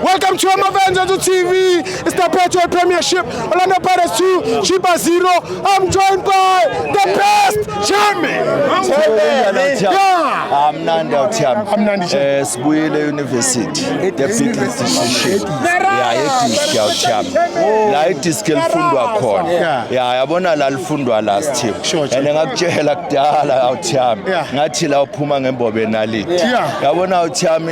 Welcome to Amavengeance TV. It's the Patriot Premiership. Orlando Pirates 2, Chiba 0. I'm joined by the best Jamie. Yeah. amnandi awuthiyami Amnandi nje. Eh, sibuyile euniversity the big institution ya yedisk yawuthiyami la idisk elifundwa khona Yeah. ya yabona la lifundwa last team Sure, sure. and ngakutshela kudala awuthiyami Yeah. ngathi la uphuma ngembobe enalini Yeah. yabona awuthiyami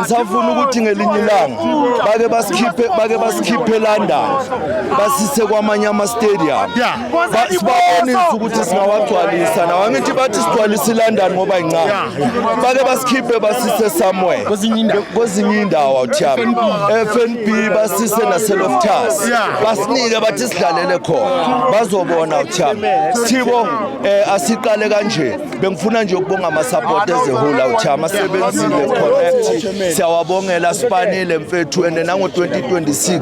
ngisafuna ukuthi ngelinye ilanga bake basikhiphe bake basikhiphe London basise kwamanye ama stadium sibabonise ukuthi singawagcwalisa nawo angithi bathi sigcwalisa iLondon ngoba incane bake basikhiphe basise somewhere kwezinye indawo awuthiyami FNB basise naseloftas basinike bathi sidlalele khona bazobona awuthiyami sithibo eh, asiqale kanje bengifuna nje ukubonga ama-support as a whole awuthi amasebenzile connect siyawabongela sibanile mfethu and nango-2026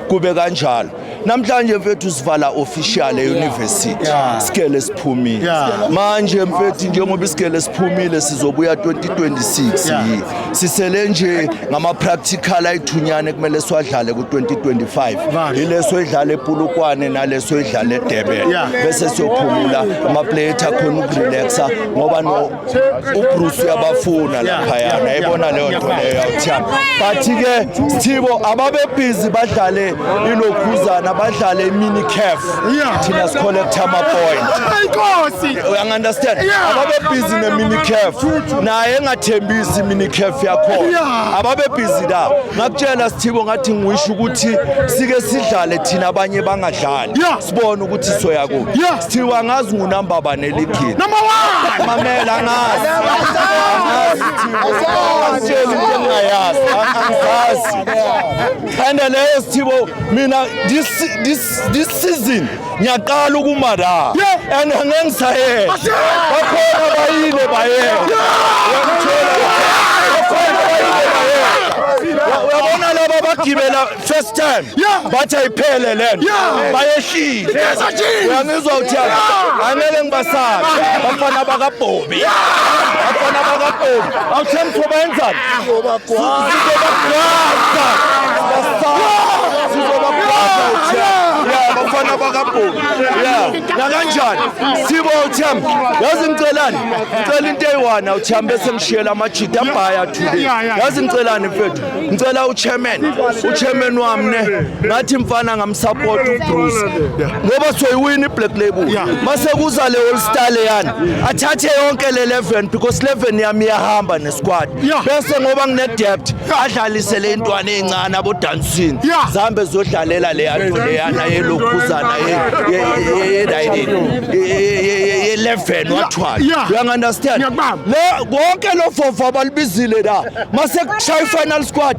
kube kanjalo namhlanje mfethu sivala official e-university sigele siphumile manje mfethu njengoba isigele siphumile sizobuya 2026 yi sisele nje ngama-practical ayithunyane kumele siwadlale ku-2025 yileso edlala epulukwane naleso edlala edebele bese siyophumula amapleyithi akhona ukurelaxa ngoba ubruce uyabafuna laphayana yayibona leyo nto leyo yawuthiyana but-ke sithibo ababebhizi badlale ilokhuzana badlale imini caf thina sikholektha ama-point uyangu-understand ababebhizi nemini caf naye engathembisi mina ikhefu yakhona ababebhizi la ngakutshela sithibo ngathi ngisho ukuthi sike sidlale thina abanye bangadlali sibone ukuthi soya kuphi sithibo angazi ngunamba bani eligini mamela angazi angitsheli into engingayazi angizazi and leyo sithibo mina this season ngiyaqala ukuma la and angeke ngisayele bakhona bayile bayele uyabona laba bagibela first time bathi ayiphele le nto bayehlile uyangizwa ukuthi angeke ngibasabe bafana bakabhobi bafana bakabhobi awuthemtho bayenzani sizobagwaza abafana bakabhulu ya nakanjani sibo uthemb yazi ngicelani ngicela into eyi-one uthemb bese ngishiyela amajida abhaya today yazi ngicelani mfethu ngicela uchairman uchairman wami ne ngathi mfana ngamsapota ubruce ngoba soyiwina i-black label mase kuza le all star leyana athathe yonke le 11 because 11 yami iyahamba squad bese ngoba ngine debt adlalise le ntwana ezincane abo dancing zambe zodlalela le yanto le yana yelokhuzana ye ye ye ye level wathwala you understand le konke lo fofa balibizile la mase kushaya final squad